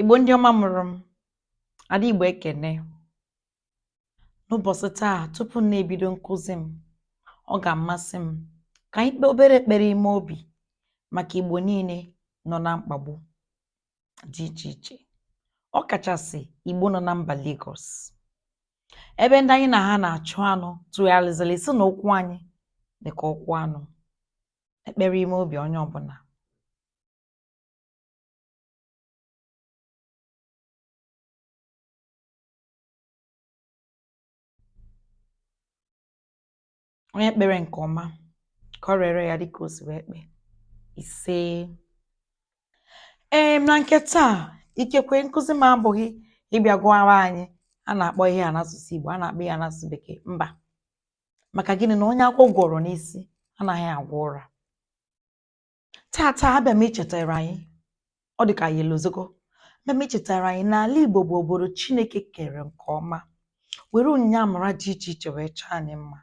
Igbo ndị ọma mụrụ m, Ada Igbo ekene. N'ụbọchị taa tupu m na-ebido nkụzi m, ọ ga-amasị m ka anyị kpee obere ekpere ime obi maka Igbo niile nọ na mkpagbu dị iche iche, ọ kachasị Igbo nọ na mba Lagos, ebe ndị anyị na ha na-achụ anụ tụgharịzịrị sị na ụkwụ anyị dị ka ụkwụ anụ. Ekpere ime obi onye ọbụla. onye kpere nke ọma ka o reere ya dịka o si wee kpee ise ee na nke taa ikekwe nkụzi m abụghị ịbịa gụwara anyị a na-akpọ ihe a n'asụsụ Igbo a na-akpọ ya n'asụsụ Bekee mba maka gịnị na onye agwọ gwọrọ n'isi anaghị agwọ ụra Taata abịa m ichetara anyị ọ dị ka anyị elozogo abịa m ichetara anyị na ala Igbo bụ obodo Chineke kere nke ọma were onyinye amara dị iche iche wee chọọ anyị mma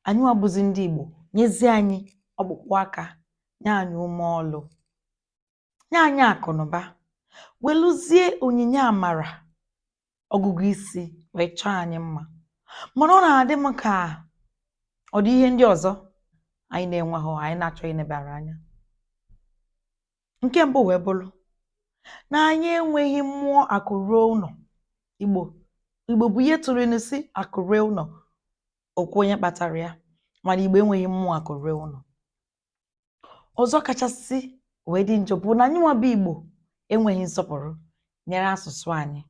anyịwa bụzi ndị Igbo nyezie anyị ọkpụkpụ aka nye anyị ume ọlụ nye anyị akụnụba welụzie onyinye amara ọgụgụ isi wee chọọ anyị mma mana ọ na-adị m ka ọ dị ihe ndị ọzọ anyị na-enweghị anyị na-achọghị inebara anya nke mbụ wee bụrụ na anyị enweghị mmụọ akụ ruo ụlọ igbo igbo bụ ndị tụrụ inu sị akụ ruo ụlọ o kwuo onye kpatara ya mana igbo enweghị mmụọ akụ ruo ụlọ ọzọ kachasị wee dị njọ bụ na anyị nwa bụ igbo enweghị nsọpụrụ nyere asụsụ anyị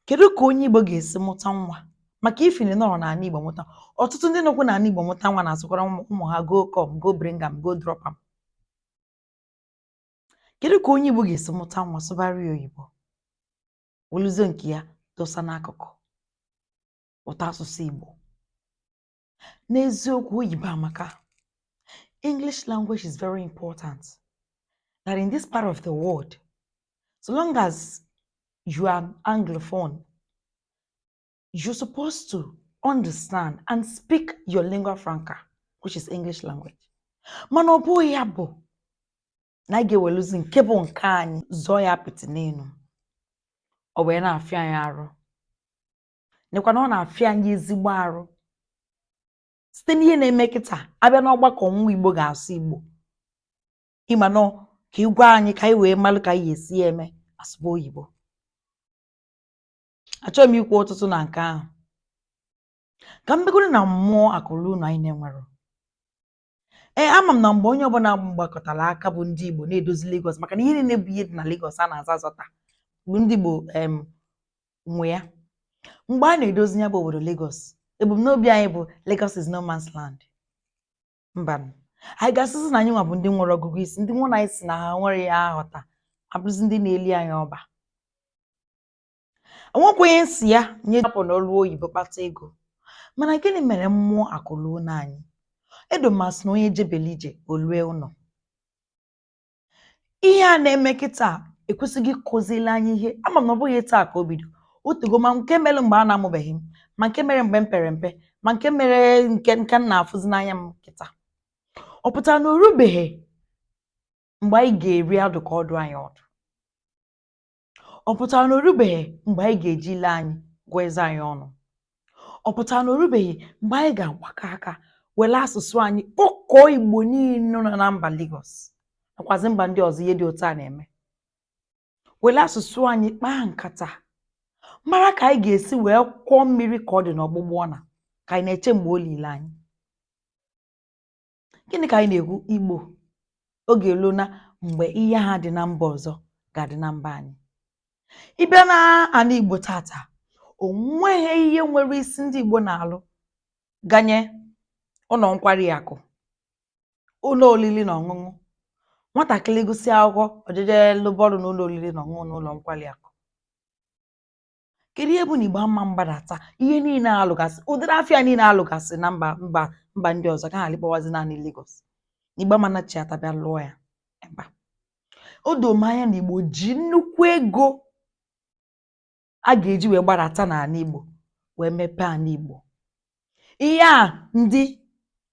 kedu ka onye igbo ga-esi mụta nwa maka even nọrọ n'ala igbo mụta ọtụtụ ndị nọkwu n'ala igbo mụta nwa na-asụkwara ụmụ ha go come go bring am go drop am kedu ka onye igbo ga-esi mụta nwa sụbara ya oyibo weluzie nke ya dosa n'akụkụ ụtọ asụsụ igbo N'eziokwu oyibo amaka. English language is very important. That in this part of the world, so long as you are an Anglophone, you're supposed to understand and speak your lingua franca, which is English language. Mana ọ bụghị ya bụ na anyị ga-eweluzi nke bụ nke anyị zọọ ya apịtị n'elu. Ọ wee na-afịa anyị arụ. nekwa na ọ na-afịa anyị ezigbo arụ site n'ihe na-eme kịta a bịa n'ọgbakọ nwa Igbo ga-asụ Igbo ịma nọ ka ị gwa anyị ka anyị wee malụ ka anyị ga-esi ya eme asụba oyibo achọghị m ikwu ọtụtụ na nke ahụ ka m begoro na mmụọ akụ ruo ụnọ anyị na-enwerọ Ee, ama m na mgbe onye ọbụla gbakọtara aka bụ ndị Igbo na-edozi Lagos maka na ihe niile bụ ihe dị na Lagos a na-aza azọta bụ ndị Igbo em, nwe ya mgbe a na-edozi ya bụ obodo Lagos ebumnobi anyị bụ Lagos is no man's land mba anyị ga-asịzi na anyị nwa bụ ndị nwere ọgụgụ isi ndị nwa anyị sị na ha nwere ya aghọta abụrụzi ndị na-eli anyị ọba Enwekwa onye sị ya onye apụna ọrụ oyibo kpata ego. Mana gịnị mere mmụọ akụ luo ụlọ anyị? Edoma sị na onye jebele ije o lue ụlọ. Ihe a na-eme kịta ekwesịghị ịkụzili anyị ihe ama m na ọ bụghị taa ka o bido o tego ma nke mere mgbe a na-amụbeghị m ma nke mere mgbe m pere mpe ma nke mere nke nke m na-afụzi n'anya m kịta ọ pụtara na o rubeghị mgbe anyị ga-eri adụ ka ọ dụ anyị ọdụ ọ pụtara na orubeghị mgbe anyị ga-eji ile anyị gụọ eze anyị ọnụ ọ pụtara na orubeghị mgbe anyị ga-agbakọ aka were asụsụ anyị kpọkọọ igbo niile nọ na mba Lagos nakwazi mba ndị ọzọ ihe dị otu a na-eme were asụsụ anyị kpaa nkata mara ka anyị ga-esi wee kwọọ mmiri ka ọ dị n'ọgbụgba ọna ka anyị na-eche mgbe o lile anyị Gịnị ka anyị na-ekwu? Igbo oge eluona mgbe ihe a dị na mba ọzọ ga-adị na mba anyị. Ị bịa na ala Igbo tata, o nweghị ihe nwere isi ndị Igbo na-alụ ganye ụlọ nkwari akụ, ụlọ oriri na ọṅụṅụ. Nwatakịrị gụsịa akwụkwọ, ọ jeje lụba ọrụ na ụlọ oriri na ọṅụṅụ na ụlọ nkwari akụ. kedu ihe bụ na Igbo ama mgbadata ihe niile alụgasị ụdịrị afịa niile alụgasị na mba mba mba ndị ọzọ ka a ghara ịkpọwazi naanị Lagos na Igbo ama nachighata bịa lụọ ya ebe a o doo m anya na Igbo ji nnukwu ego a ga-eji wee gbadata n'ala Igbo wee mepee ala Igbo Ihe a ndị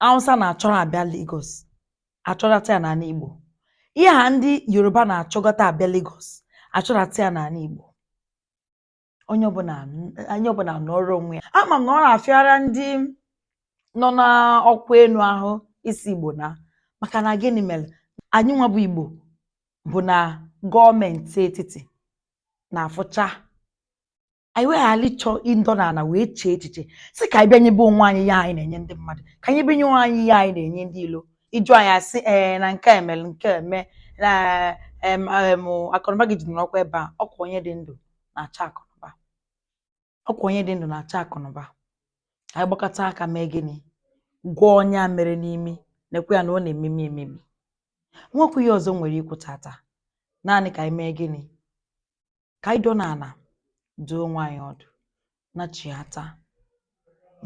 Hausa na-achọrọ abịa Lagos achọrọta ya n'ala Igbo. Ihe a ndị Yoruba na-achọgọta abịa Lagos achọrọta ya n'ala Igbo. Onye ọbụla onye ọbụla nọọrọ onwe ya. Ama m na ọ na-afịara ndị nọ n'ọkwa elu ahụ ịsị Igbo naa maka na gịnị mere anyị nwa bụ Igbo bụ na gọọmenti etiti na-afụcha anyị wee ghara ịchọ ịdọ n'ala wee chee echiche sị ka anyị bịa nyebe onwe anyị ihe anyị na-enye ndị mmadụ ka anyị bịa nye onwe anyị ihe anyị na-enye ndị ilo ịjụ anyị asị ee na nke a emere nke a eme na em, em, akụnụba gị jidere ọkwa ebe a ọkwa onye dị ndụ na-achọ akụnụba ọkwa onye dị ndụ na-achọ akụnụba ka anyị gbakọta aka mee gịnị gwọọ ọnya a mere n'imi nekwe ya na ọ na-ememi ememi nwekwa ihe ọzọ m nwere ikwu tata naanị ka anyị mee gịnị ka anyị dọ n'ala dụọ onwe anyị ọdụ nachighata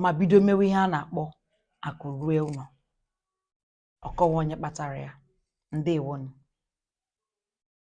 ma bido mewe ihe a na-akpọ akụ rue ụlọ ọ kọwaa onye kpatara ya ndewo nụ